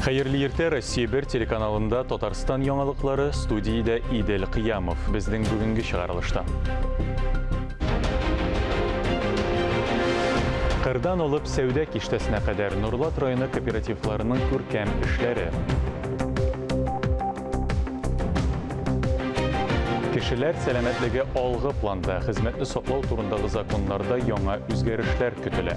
Хәерле иртә Россия бер телеканалында Татарстан яңалыклары студиядә Идел Кыямов. Безнең бүгенге чыгарылышта. Кырдан алып сәүдә киштәсенә кадәр Нурлат районы кооперативларының күркәм эшләре. Кешеләр сәламәтлеге алгы планда, хезмәтне саклау турындагы законнарда яңа үзгәрешләр көтелә.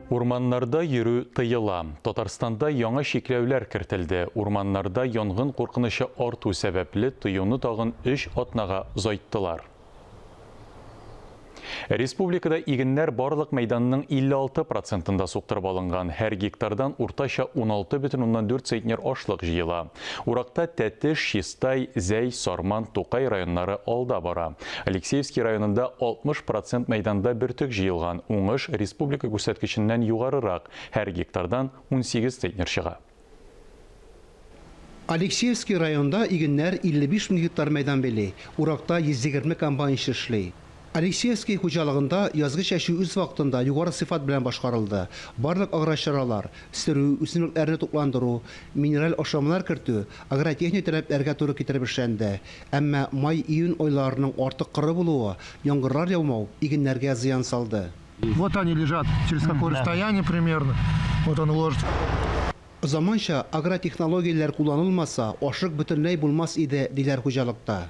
Урманнарда йөрү тыела. Татарстанда яңа чикләүләр кертелде. Урманнарда янгын куркынычы арту сәбәпле, тыюны тагын өч атнага озайттылар. Республикада игеннәр барлык мәйданның 56 процентында суктырып алынган. Һәр гектардан уртача 16,4 центнер ашлык җыела. Уракта Тәтеш, Чистай, Зәй, Сарман, Тукай районнары алда бара. Алексеевский районында 60 процент мәйданда бөртек җыелган, уңыш республика күрсәткеченнән югарырак, һәр гектардан 18 центнер чыга. Алексеевский районында игеннәр 55 мең гектар мәйдан били, уракта 120 комбайнчы эшли. Алексеевский хуҗалыгында язгы чәчү үз вакытында югары сыйфат белән башкарылды. Барлык аграр чаралар, сөрү, үсемлекләрне тукландыру, минераль ашламалар кертү агротехник таләпләргә туры китереп эшләнде. Әмма май-июнь айларының артык коры булуы, яңгырлар яумау игеннәргә зыян салды. Вот они лежат, через какое расстояние примерно, вот он ложится. Заманча агротехнологияләр кулланылмаса, ашык бөтенләй булмас иде, диләр хуҗалыкта.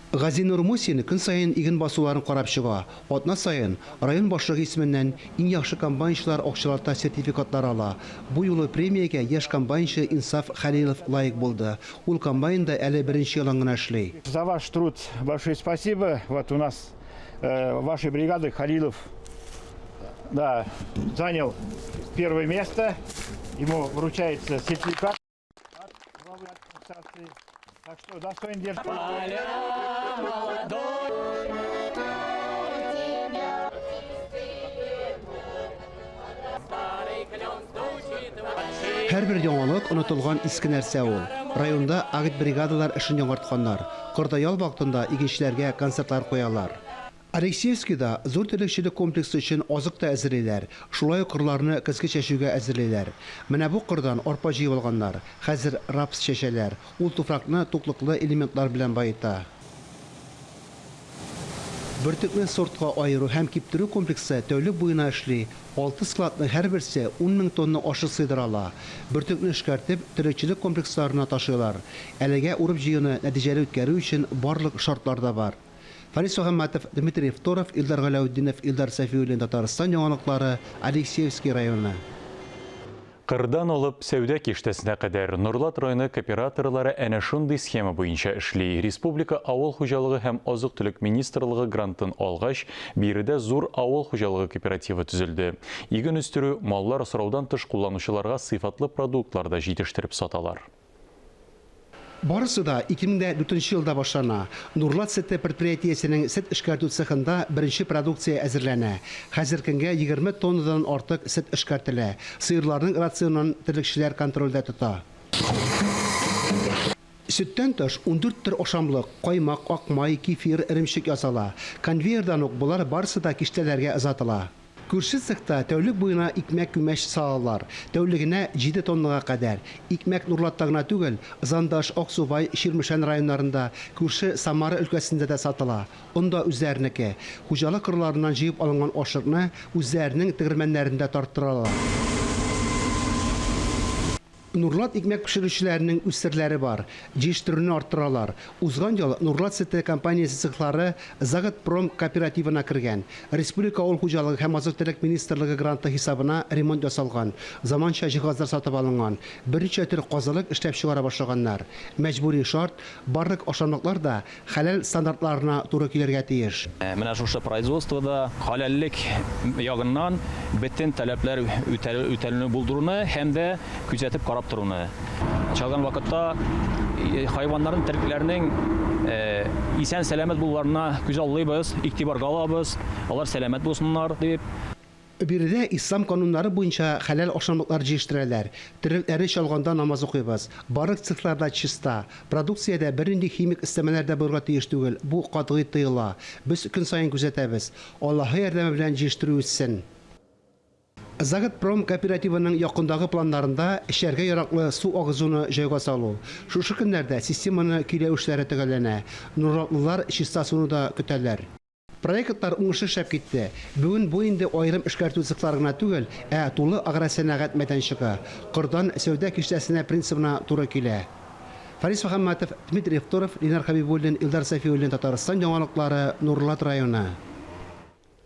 Газинур Мусин көн саен иген басуларын карап чыга, атна саен район башлыгы исеменнән иң яхшы комбайнчылар акчалата сертификатлар ала. Бу юлы премиягә яшь комбайнчы Инсаф Хәлилов лаек булды. Ул комбайнда әле беренче елын гына эшли. За ваш труд большое спасибо, вот у нас вашей бригады Халилов да занял первое место, ему вручается сертификат. Так что, да, что не держит. Поля молодой, тебя Старый клен стучит в Һәрбер яңалык онытылган иске нәрсә ул. Районда агит бригадалар эшен яңартканнар. Кордаял вакытында игенчеләргә концертлар куялар. Алексеевскида зур терлекчелек комплексы өчен азык та әзерлиләр, шулай ук кырларны көзге чәчүгә әзерлиләр. Менә бу кырдан арпа җыеп алганнар, хәзер рапс чәчәләр, ул туфракны туклыклы элементлар белән баета. Бөртекне сортка аеру һәм киптерү комплексы тәүлек буена эшли, алты складның һәрберсе ун мең тонна ашык сыйдыра ала. Бөртекне эшкәртеп, терлекчелек комплексларына ташыйлар. Әлегә урып-җыюны нәтиҗәле үткәрү өчен барлык шартлар да бар. Фарис Мөхәммәтов, Дмитрий Евторов, Илдар Галәүтдинов, Илдар Сафиуллин Татарстан яңалыклары, Алексеевский районы. Кырдан алып сәүдә киштәсенә кадәр, Норлат районы кооператорлары әнә шундый схема буенча эшли. Республика авыл хуҗалыгы һәм азык-төлек министрлыгы грантын алгач, биредә зур авыл хуҗалыгы кооперативы төзелде. Иген үстерү, маллар асраудан тыш кулланучыларга сыйфатлы продуктлар да җитештереп саталар. Барысы да 2004 нче елда башлана. Нурлат сөте предприятиесенең сөт эшкәртү цехында беренче продукция әзерләнә. Хәзер көнгә 20 тоннадан артык сөт эшкәртелә. Сыерларның рационын терлекчеләр контрольдә тота. Сөттән тыш, ундүрт төр ашамлык, каймак, ак май, кефир, эремчек ясала. Конвейердан ук болар барысы да киштәләргә озатыла. Күрше цехта тәүлек буена икмәк-күмәч салалар, тәүлегенә җиде тоннага кадәр. Икмәк Нурлатта гына түгел, Зандаш, Аксубай, Чирмешән районнарында, күрше Самара өлкәсендә дә сатыла. Он да үзләренеке. Хуҗалык кырларыннан җыеп алынган ашлыкны үзләренең тегермәннәрендә тарттыралар. Нурлат икмәк пешерүчеләренең үз серләре бар, җиештерүне арттыралар. Узган ел Нурлат сөте компаниясе цехлары Заготпром кооперативына кергән. Республика авыл хуҗалыгы һәм азык-төлек министрлыгы гранты хисабына ремонт ясалган, заманча җиһазлар сатып алынган, берничә төр казылык эшләп чыгара башлаганнар. Мәҗбүри шарт, барлык ашамлыклар да Хәләл стандартларына туры килергә тиеш. Менә шушы производствода хәләллек ягыннан бөтен таләпләр үтәлүне булдыруны һәм дә күзәтеп карап торуны, чалган вакытта хайваннарның, терлекләрнең исән-сәламәт булуларына күзаллыйбыз, игътибарга алабыз, алар сәламәт булсыннар дип. Биредә ислам кануннары буенча хәләл ашамлыклар җиештертәләр, терлекләре чалганда намаз укыйбыз. Барлык цехлар да чиста. Продукциядә бернинди химик өстәмәләр дә булырга тиеш түгел, бу катгый тыела. Без көн саен күзәтәбез. Аллаһы ярдәме белән җиештерү үссен. Заготпром кооперативының якындагы планнарында эчәргә яраклы су агызуны җайга салу. Шушы көннәрдә системаны көйләү эшләре төгәлләнә. Нурлатлылар чиста суны да көтәләр. Проектлар уңышлы эшләп китте. Бүген бу инде аерым эшкәртү цехлары гына түгел, ә тулы агросәнәгать мәйданчыгы, кордан сәүдә киштәсенә принцибына туры килә. Фарис Мөхәммәтов, Дмитрий Евторов, Линар Хәбибуллин, Илдар Сафиуллин Татарстан яңалыклары, Нурлат районы.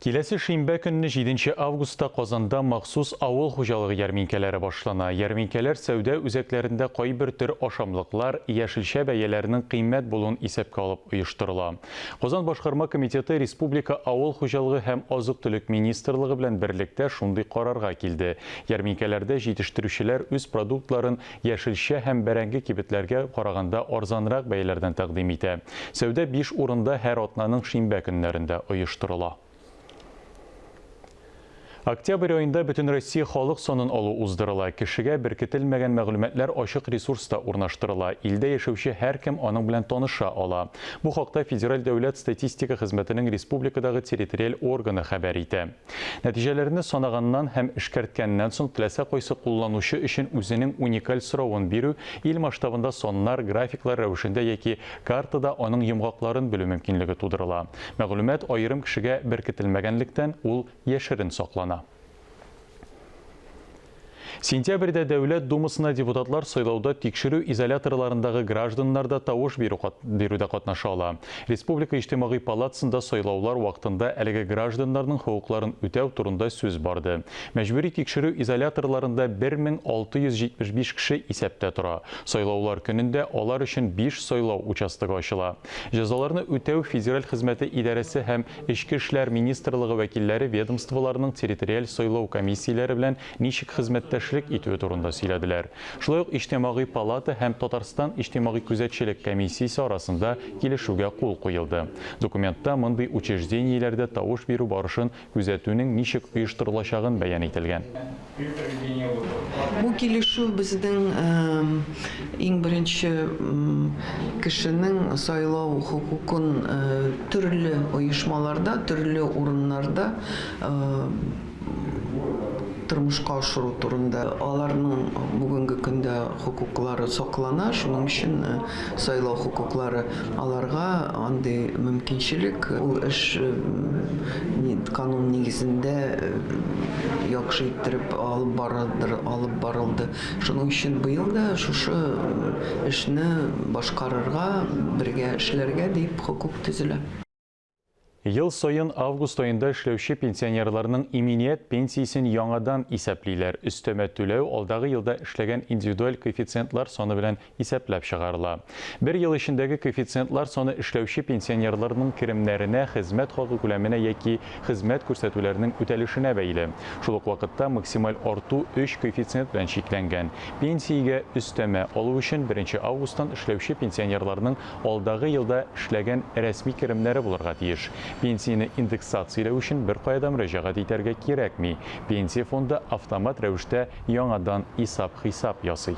Киләсе шимбә көнне, җиденче августта Казанда махсус авыл хуҗалыгы ярминкәләре башлана. Ярминкәләр сәүдә үзәкләрендә кайбер төр ашамлыклар, яшелчә бәяләренең кыйммәт булуын исәпкә алып оештырыла. Казан башкарма комитеты республика авыл хуҗалыгы һәм азык-төлек министрлыгы белән берлектә шундый карарга килде. Ярминкәләрдә җитештерүчеләр үз продуктларын яшелчә һәм бәрәңге кибетләргә караганда арзанрак бәяләрдән тәкъдим итә. Сәүдә биш урында һәр атнаның шимбә көннәрендә оештырыла. Октябрь аенда Бөтенроссия халык санын алу уздырыла. Кешегә беркетелмәгән мәгълүматлар ачык ресурста урнаштырыла. Илдә яшәүче һәркем аның белән таныша ала. Бу хакта Федераль дәүләт статистика хезмәтенең республикадагы территориаль органы хәбәр итә. Нәтиҗәләрне санаганнан һәм эшкәрткәннән соң теләсә кайсы кулланучы өчен үзенең уникаль соравын бирү ил масштабында саннар, графиклар рәвешендә яки Картада аның йомгакларын белү мөмкинлеге тудырыла. Мәгълүмат аерым кешегә беркетелмәгәнлектән, ул яшерен саклана. Сентябрьдә Дәүләт Думасына депутатлар сайлауда тикшерү изоляторларындагы гражданнар да тавыш бирү бирүдә катнаша ала. Республика Иҗтимагый палатасында сайлаулар вакытында әлеге гражданнарның хокукларын үтәү турында сүз барды. Мәҗбүри тикшерү изоляторларында 1675 кеше исәптә тора. Сайлаулар көнендә алар өчен биш сайлау участогы ачыла. Җәзаларны үтәү федераль хезмәте идарәсе һәм Эчке эшләр министрлыгы вәкилләре ведомстволарның территориаль сайлау комиссияләре белән ничек хезмәттәшлек итүе турында сөйләделәр. Шулай ук Иҗтимагый палата һәм Татарстан иҗтимагый күзәтчелек комиссиясе арасында килешүгә кул куелды. Документта мондый учреждениеләрдә тавыш бирү барышын Күзәтүнең ничек оештырылачагын бәян ителгән. Бу килешү безнең иң беренче кешенең сайлау хокукын төрле оешмаларда, төрле урыннарда тормышка ашыру турында. Аларның бүгенге көндә хокуклары саклана, шуның өчен, Сайлау хокуклары аларга андый мөмкинчелек, ул эш канун нигезендә яхшы иттереп алып барылдыр, алып барылды. Шуның өчен быел да шушы эшне башкарырга, бергә эшләргә дип хокук төзелә. Ел саен август аенда эшләүче пенсионерларның иминият пенсиясен яңадан исәплиләр, өстәмә түләү алдагы елда эшләгән индивидуаль коэффициентлар саны белән исәпләп чыгарыла. Бер ел эчендәге коэффициентлар саны эшләүче пенсионерларның керемнәренә, хезмәт хакы күләменә яки хезмәт күрсәтүләрнең үтәлешенә бәйле. Шул ук вакытта максималь арту өч коэффициент белән чикләнгән. Пенсиягә өстәмә алу өчен беренче августтан эшләүче пенсионерларның алдагы елда эшләгән рәсми керемнәре булырга тиеш. Пенсияне индексацияләү өчен беркая да мөрәҗәгать итәргә кирәкми, Пенсия фонды автомат рәвештә яңадан исап-хисап ясый.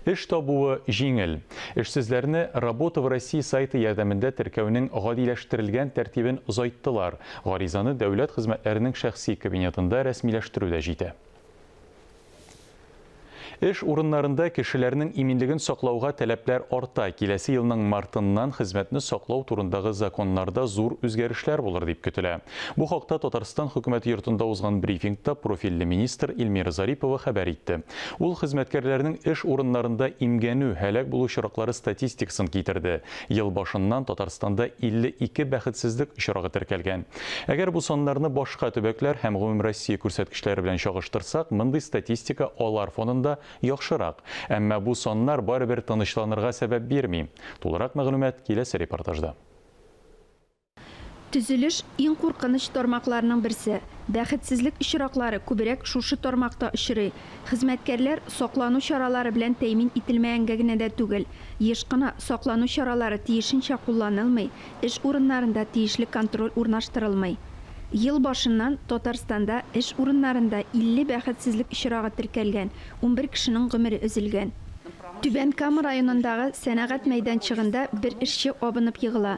Эш табуы җиңел. Эшсезләрне Работа в России сайты ярдәмендә теркәүнең гадиләштерелгән тәртибен озайттылар, гаризаны дәүләт хезмәтләренең шәхси кабинетында рәсмиләштерү дә җитә. Эш урыннарында кешеләрнең иминлеген саклауга таләпләр арта. Киләсе елның мартыннан хезмәтне саклау турындагы законнарда зур үзгәрешләр булыр дип көтелә. Бу хакта Татарстан Хөкүмәте йортында узган брифингта профильле министр Эльмира Зарипова хәбәр итте. Ул хезмәткәрләрнең эш урыннарында имгәнү, һәлак булу очраклары статистикасын китерде. Ел башыннан Татарстанда 52 бәхетсезлек очрагы теркәлгән. Әгәр бу саннарны башка төбәкләр һәм гомумроссия күрсәткечләре белән чагыштырсак, мондый статистика алар фонында яхшырак. Әмма бу саннар барыбер тынычланырга сәбәп бирми. Тулырак мәгълүмат киләсе репортажда. Төзелеш, иң куркыныч тармакларның берсе. Бәхетсезлек очраклары күбрәк шушы тармакта очрый. Хезмәткәрләр саклану чаралары белән тәэмин ителмәгәнгә генә дә түгел, еш кына саклану чаралары тиешенчә кулланылмый, эш урыннарында тиешле контроль урнаштырылмый. Ел башыннан Татарстанда эш урыннарында 50 бәхетсезлек очрагы теркәлгән, унбер кешенең гомере өзелгән. Түбән Кама районындагы сәнәгать мәйданчыгында бер эшче абынып егыла.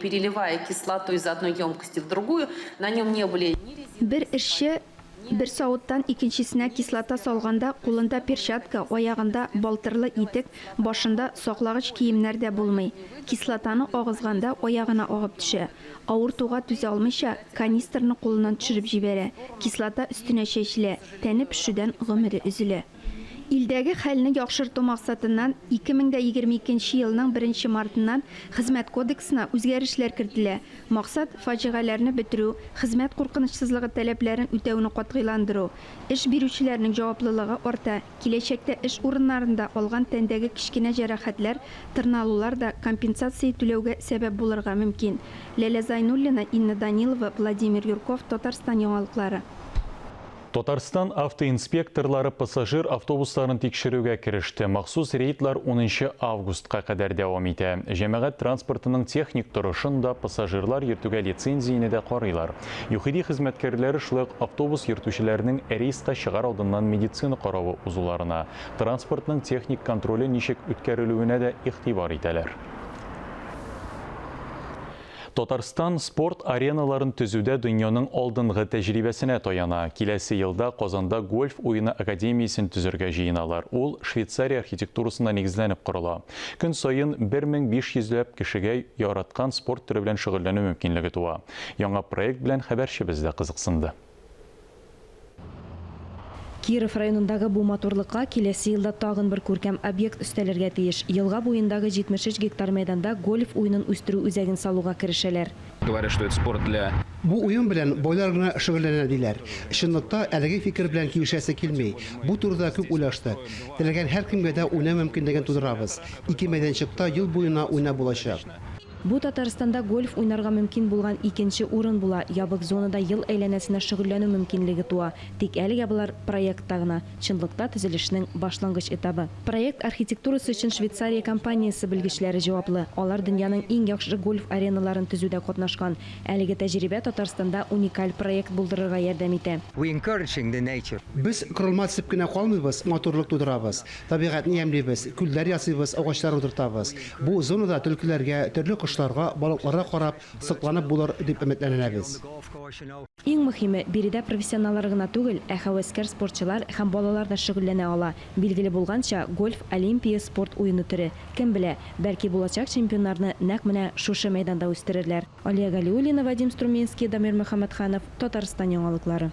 Переливая кислоту из одной емкости в другую, на нем не были ни резинки. Бер эшче бер савыттан икенчесенә кислота салганда кулында перчатка, аягында балтырлы итек, башында саклагыч киемнәр дә булмый. Кислотаны агызганда аягына агып төшә. Авыртуга түзә алмыйча, канистрны кулыннан төшереп җибәрә. Кислота өстенә чәчелә, тәне пешүдән гомере өзелә. Илдәге хәлне яхшырту максатыннан 2022 нче елның 1 нче мартыннан Хезмәт кодексына үзгәрешләр кертелә. Максат, фаҗигаләрне бетерү, хезмәт куркынычсызлыгы таләпләрен үтәүне катгыйландыру. Эш бирүчеләрнең җаваплылыгы арта, киләчәктә эш урыннарында алган тәндәге кечкенә җәрәхәтләр, тырналулар да компенсация түләүгә сәбәп булырга мөмкин. Ләлә Зайнуллина, Инна Данилова, Владимир Юрков, Татарстан яңалыклары. Татарстан автоинспекторлары пассажир автобусларын тикшерүгә кереште. Махсус рейдлар унынчы августка кадәр дәвам итә. Җәмәгать транспортының техник торышын да, пассажирлар йөртүгә лицензияне дә карыйлар. ЮХИДИ хезмәткәрләре шулай ук автобус йөртүчеләрнең рейска чыгар алдыннан медицина каравы узуларына, транспортның техник контроле ничек үткәрелүенә дә игътибар итәләр. Татарстан спорт ареналарын төзүдә дөньяның алдынгы тәҗрибәсенә таяна. Киләсе елда Казанда гольф уены академиясен төзергә җыеналар. Ул Швейцария архитектурасына нигезләнеп корыла. Көн саен 1500 ләп кешегә яраткан спорт төре белән шөгыльләнү мөмкинлеге туа. Яңа проект белән хәбәрчебез дә кызыксынды. Киров районындагы бу матурлыкка киләсе елда тагын бер күркәм объект өстәлергә тиеш. Елга буендагы 73 гектар мәйданда гольф уенын үстерү үзәген салуга керешәләр. Говорят, что это спорт для. Бу уен белән байлар гына шөгыльләнә, диләр. Чынлыкта әлеге фикер белән килешәсе килми. Бу турыда күп уйлаштык. Теләгән һәркемгә дә уйнау мөмкинлеген тудырабыз. Ике мәйданчыкта ел буена уйнап булачак. Бу Татарстанда гольф уйнарга мөмкин булган икенче урын була, ябык зонада ел әйләнәсенә шөгыльләнү мөмкинлеге туа. Тик әлегә болар проектта гына, чынлыкта төзелешнең башлангыч этабы. Проект архитектурасы өчен Швейцария компаниясе белгечләре җаваплы. Алар дөньяның иң яхшы гольф ареналарын төзүдә катнашкан. Әлеге тәҗрибә Татарстанда уникаль проект булдырырга ярдәм итә. Без корылма төзеп кенә калмыйбыз, матурлык тудырабыз. Табигатьне ямьлибез, күлләр ясыйбыз, агачлар утыртабыз. Бу зонада төлкеләргә, төрле кошларга, балыкларга карап, сокланып булыр, дип өметләнәбез. Иң мөхиме, биредә профессионаллар гына түгел, ә һәвәскәр спортчылар һәм балалар да шөгыльләнә ала. Билгеле булганча, гольф, олимпия спорт уены төре. Кем белә, бәлки булачак чемпионнарны нәкъ менә шушы мәйданда үстерерләр. Алия Галиуллина, Вадим Струминский, Дамир Мөхәммәтханов, Татарстан яңалыклары.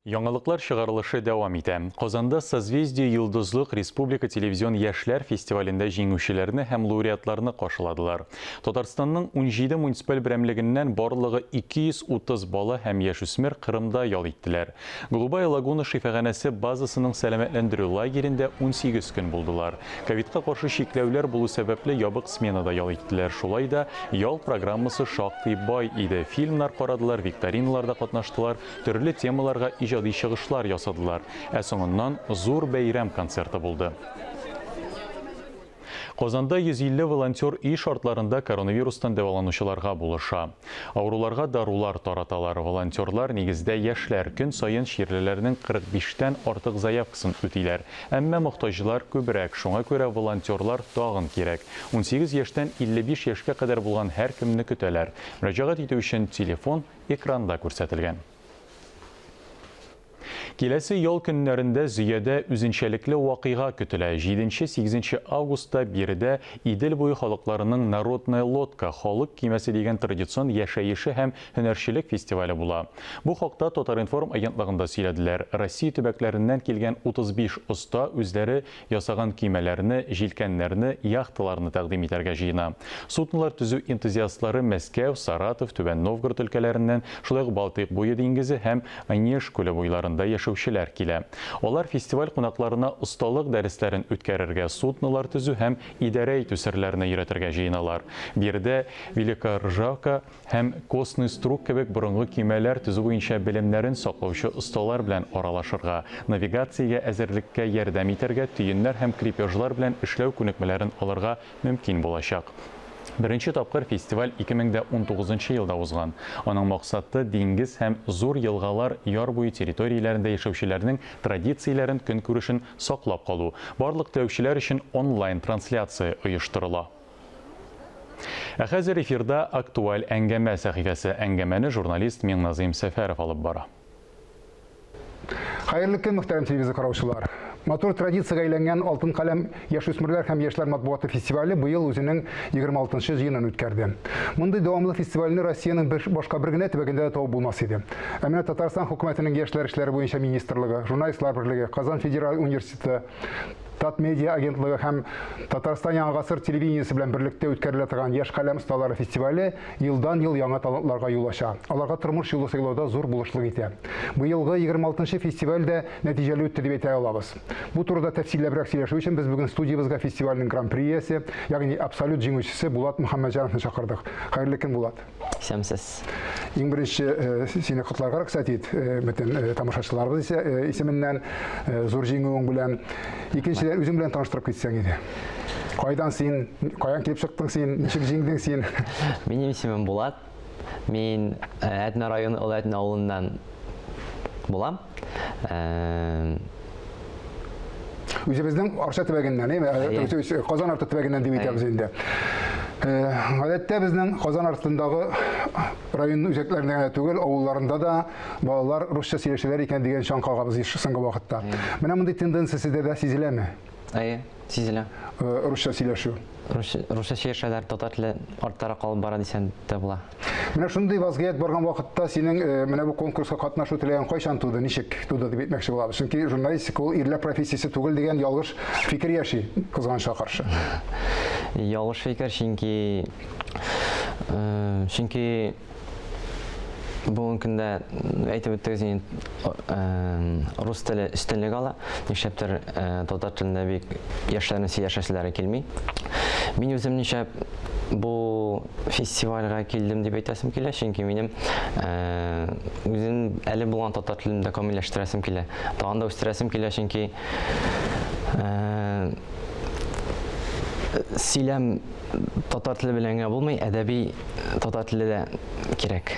Яңалыклар чыгарылышы дәвам итә. Казанда Созвездие Йолдызлык республика телевизион яшьләр фестивалендә җиңүчеләрне һәм лауреатларны каршыладылар. Татарстанның унҗиде муниципаль берәмлегеннән барлыгы 230 бала һәм яшүсмер Кырымда ял иттеләр. Голубая лагуна шифаханәсе базасының сәламәтләндерү лагерендә унсигез көн булдылар. Ковидка каршы чикләүләр булу сәбәпле ябык сменада ял иттеләр. Шулай да ял программасы шактый бай иде, фильмнар карадылар, викториналарда катнаштылар, Төрле темаларга иҗади чыгышлар ясадылар, ә соңыннан зур бәйрәм концерты булды. Казанда 150 волонтер өй шартларында коронавирустан дәваланучыларга булыша. Авыруларга дарулар тараталар. Волонтерлар, нигездә, яшьләр. Көн саен чирлеләрнең 45 тән артык заявкасын үтиләр. Әмма мохтаҗлар күбрәк, шуңа күрә волонтерлар тагын кирәк. Унсигез яшьтән 55 яшькә кадәр булган һәркемне көтәләр. Мөрәҗәгать итү өчен телефон, экранда күрсәтелгән. Киләсе ял көннәрендә Зөядә үзенчәлекле вакыйга көтелә, җиденче-сигезенче августта биредә Идел буе халыкларының Народная лодка, халык кимәсе дигән традицион яшәеше һәм һөнәрчелек фестивале була. Бу хакта Татар-информ агентлыгында сөйләделәр. Россия төбәкләреннән килгән 35 оста үзләре ясаган көймәләрне, җилкәннәрне, яхталарны тәкъдим итәргә җыена. Суднолар төзү энтузиастлары Мәскәү, Саратов, Түбән Новгород өлкәләреннән, шулай ук Балтыйк буе диңгезе һәм Онеж күле буйларында яшәүчеләр килә. Алар фестиваль кунакларына осталык дәресләрен үткәрергә, суднолар төзү һәм идарә итү серләренә өйрәтергә җыеналар. Биредә Великая Ржавка, һәм костный струк кебек борынгы көймәләр төзү буенча белемнәрен саклаучы осталар белән аралашырга, навигациягә әзерлеккә ярдәм итәргә, төеннәр һәм крепежлар белән эшләү күнекмәләрен алырга мөмкин булачак. Беренче тапкыр фестиваль 2019 нчы елда узган. Аның максаты, диңгез һәм зур елгалар, яр буе территорияләрендә яшәүчеләрнең традицияләрен, көнкүрешен саклап калу. Барлык теләүчеләр өчен онлайн-трансляция оештырыла. Ә хәзер эфирда Актуаль әңгәмә сәхифәсе. Әңгәмәне журналист Миңназыйм Сәфәров алып бара. Хәерле көн, мөхтәрәм телевизор караучылар! Матур традициягә әйләнгән Алтын каләм яшүсмерләр һәм яшьләр матбугаты фестивале быел үзенең 26 нчы җыенын үткәрде. Мондый дәвамлы фестивальне Россиянең бер, башка бер генә төбәгендә дә табып булмас иде. Ә менә Татарстан хөкүмәтенең яшьләр эшләре буенча министрлыгы, Журналистлар берлеге, Казан федераль университеты, Татмедиа агентлыгы һәм Татарстан Яңа гасыр телевидениесе белән берлектә үткәрелә торган Яшь каләм осталары фестивале елдан-ел яңа талантларга юл ача. Аларга тормыш юлы сайлауда зур булышлык итә. Быелгы 26 фестиваль дә нәтиҗәле үтте дип әйтә алабыз. Бу турыда тәфсилләбрәк сөйләшү өчен без бүген студиябезгә фестивальнең гран-при иясе, ягъни абсолют җиңүчесе Булат Мөхәммәтҗановны чакырдык. Хәерле көн, Булат! исәмсез. Иң беренче э, сине котларга рөхсәт ит, э, бөтен э, тамашачыларыбыз исә исеменнән зур җиңүең белән. Икенчедән үзең белән таныштырып китсәң иде. Кайдан син, каян килеп чыктың син, ничек җиңдең син? Минем исемем Булат. Мин Әтнә районы Олы Әтнә авылыннан булам. Үзебезнең Арча төбәгеннән, әйе, Казан арты төбәгеннән дип әйтәбез инде. Гадәттә безнең Казан артындагы район үзәкләрендә генә түгел, авылларында да балалар русча сөйләшәләр икән дигән чаң кагабыз соңгы вакытта. Менә мондый тенденция сездә дә сизеләме? Әйе, сизелә. Русча сөйләшү. Русча сөйләшәләр, татар теле арттарак калып бара дисәң дә була. Менә шундый вазгыять барган вакытта синең э, менә бу конкурска катнашу теләген кайчан туды, ничек туды дип әйтмәкче булабыз. Чөнки журналистика ул ирләр профессиясе түгел дигән ялгыш фикер яши, кызганычка каршы. Ялгыш фикер, чөнки э, чөнки бүгенге көндә әйтеп үттегез инде рус теле өстенлек ала. Нишләптер татар телендә бик яшьләрне сөйләшәселәре килми. Мин үзем нишләп бу фестивальгә килдем дип әйтәсем килә, чөнки минем үзем әле булган татар телен дә камилләштерәсем килә. Тагын да үстерәсем килә, чөнки сөйләм татар теле белән генә булмый, әдәби э, татар теле дә кирәк.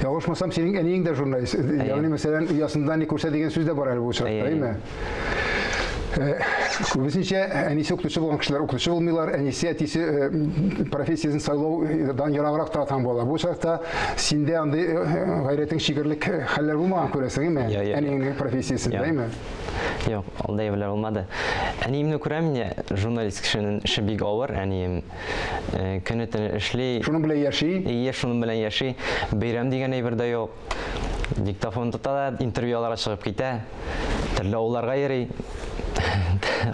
Ялгышмасам, синең әниең дә журналист. Ягъни, мәсәлән, оясында не күрсә дигән сүз дә бар әле бу очракта, әйме? Э, Күбесенчә әнисе укытучы булган кешеләр укытучы булмыйлар, әнисе, әтисе э, профессиясен сайлаудан ераграк тора торган була. Бу очракта синдә андый э, гайрәтең чигерлек хәлләр булмаган күрәсең, әйме? Я, я, я. Әниеңнең профессиясендә, Я. әйме? Юк, андый әйберләр булмады. Әниемне күрәм инде, журналист кешенең эше бик авыр, әнием э, көне төне эшли. Шуның белән яши? Ие, шуның белән яши. Бәйрәм дигән әйбер дә юк. Диктофон тота да, интервью аларга чыгып китә. Төрле авылларга йөри.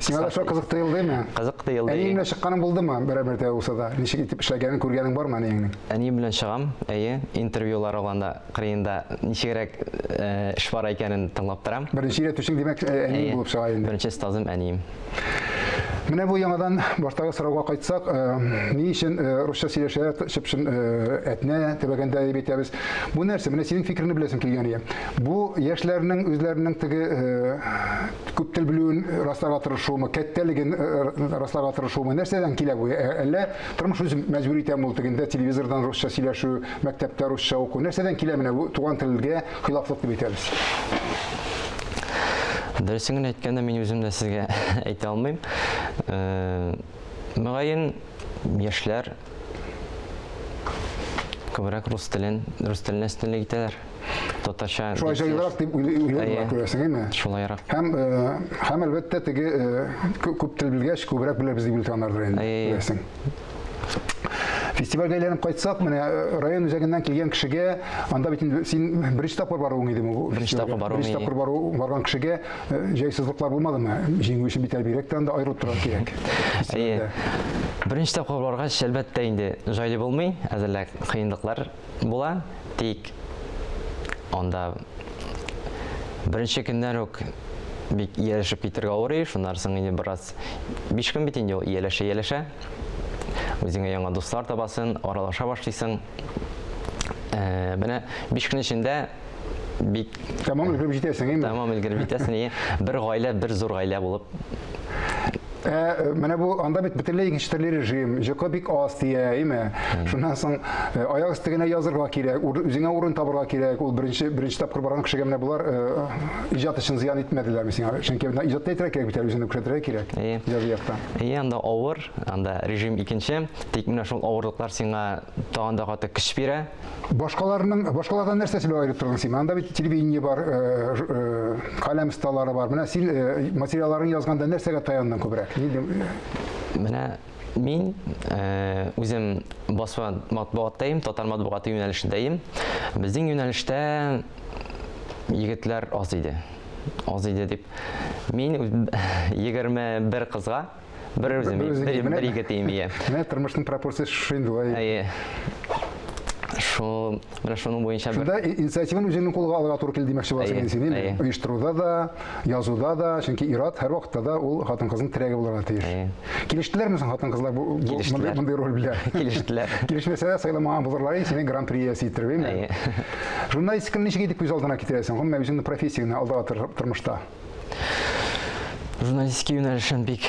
Сиңа да шул кызык тыелдымы? Кызык тыелды. Әниең белән чыкканың булдымы? Берәбер дә булса да. Ничек итеп эшләгәнен күргәнең бармы әниеңнең? Әнием белән чыгам, әйе, интервьюлар алганда кырыенда ничегрәк эш бара икәнен тыңлап торам. Беренче өйрәтүчең димәк әниең булып чыга инде. Беренче остазым әнием. Менә бу яңадан баштагы сорауга кайтсак, ни өчен русча сөйләшә чып-чын әтнә төбәгендә дип әйтәбез. Бу нәрсә? Менә синең фикереңне беләсем килгән иде. Бу яшьләрнең үзләренең теге күп тел белүен расларга тырышуымы, кәттәлеген расларга тырышуымы, нәрсәдән килә бу? Әллә тормыш үзе мәҗбүр итәме ул тегендә телевизордан русча сөйләшү, Мәктәптә русча уку. Нәрсәдән килә менә бу туган телгә хилафлык дип әйтәбез? Дөресен генә әйткәндә, мин үзем дә сезгә әйтә алмыйм. Э, мөгаен, яшьләр күбрәк рус телен, рус теленә өстенлек итәләр. Татарча. Шулай җайлырак дип уйлыйлар, күрәсең, әйме? Шулайрак. Һәм, э, һәм әлбәттә, теге э, күп тел белгәч, күбрәк беләбез дип өлкәннәрдер инде, күрәсең. Фестивальгә әйләнеп кайтсак, менә э, район үзәгеннән килгән кешегә, анда бит инде син беренче тапкыр баруың идеме бу? Беренче тапкыр баруым, Беренче тапкыр бару барган кешегә э, җайсызлыклар булмадымы? Җиңү өчен бит әлбирәк тә анда аерылып торырга кирәк. Әйе. Беренче тапкыр баргач, әлбәттә инде җайлы булмый, әзерлек кыенлыклар була, тик анда беренче көннән үк бик ияләшеп китергә авырый, шуннан соң инде бераз биш көн бит инде ул ияләшә-ияләшә. Үзеңә яңа дуслар табасың, аралаша башлыйсың. Ә, менә биш көн эчендә бик Тәмам өлгереп җитәсең, әйме? Тәмам өлгереп җитәсең, әйе. Бер гаилә, бер зур гаилә булып. Ә, э, менә бу анда бит бөтенләй икенче төрле режим, җокы бик аз тия, әйме? Шуннан соң э, аяк өсте генә язырга кирәк, үзеңә урын табырга кирәк. Ул беренче беренче тапкыр барган кешегә менә булар э, иҗат өчен зыян итмәделәрме сиңа? Чөнки менә иҗатта итәргә кирәк бит, үзеңне күрсәтергә кирәк. Әйе. Язу якта. Әйе, анда авыр, анда режим икенче, тик менә шул авырлыклар сиңа тагын да каты көч бирә. башкаларның башкалардан нәрсә сөйләп аерып тордың син анда бит телевидение бар э, э, каләм столары бар менә син э, материалларын язганда нәрсәгә таяндың күбрәк менә мин үзем басма матбугаттайым татар матбугаты юнәлешендәем безнең юнәлештә егетләр аз иде аз иде дип мин егерме бер кызга Бер үзе, бер ике тиенме, иә. Менә тормышның пропорциясы шушы инде ой. Әйе. Шул, менә шуның буенча бер. Шунда инициативаны үзеңнең кулга алырга туры килде димәкче буласың инде син, әйе. Оештыруда да, язуда да, чөнки ират һәр вакытта да ул хатын-кызның терәге булырга тиеш. Әйе. Килештеләрме соң хатын-кызлар бу мондый мондый роль белән? Килештеләр. Килешмәсә дә сайламаган булырлар инде синең гран-при иясе итеп, әйеме? Әйе. Журналистиканы ничек итеп күз алдына китерәсең? Гомумән үзеңнең профессияңне алдагы тормышта. Журналистика юнәлешен бик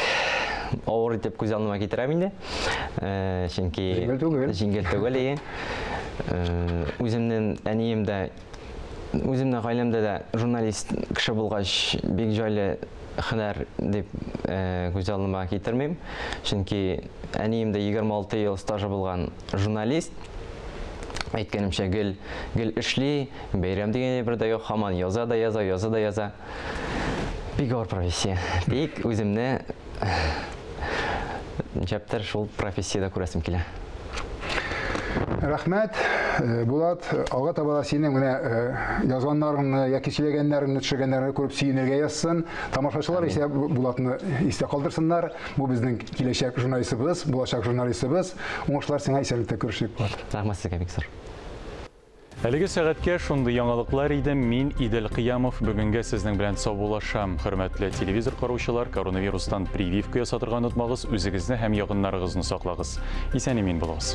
авыр итеп күз алдыма китерәм инде. Э, чөнки җиңел түгел. Җиңел түгел, ие. Э, үземнең әнием дә үземнең гаиләмдә дә журналист кеше булгач, бик җайлы хәнәр дип э, күз алдыма китермим. Чөнки әнием дә 26 ел стажы булган журналист. Әйткәнемчә, гел гел эшли, Бәйрәм дигән әйбер дә юк, һаман яза да яза, яза да яза. Бик авыр профессия. Тик үземне нишләптер шул профессиядә күрәсем килә. Рәхмәт, э, Булат, алга таба да синең менә э, язганнарыңны яки сөйләгәннәреңне, төшергәннәреңне күреп сөенергә язсын. Тамашачылар исә Бу- Булатны истә калдырсыннар. Бу безнең киләчәк журналистыбыз, булачак журналистыбыз. Уңышлар сиңа исәнлектә күрешик, Булат. Рәхмәт сезгә бик зур. Әлеге сәгатькә шундый яңалыклар иде, мин Идел Кыямов бүгенгә сезнең белән саубулашам. Хөрмәтле телевизор караучылар, коронавирустан прививка ясатырга онытмагыз, үзегезне һәм ягыннарыгызны саклагыз. Исән-имин булыгыз.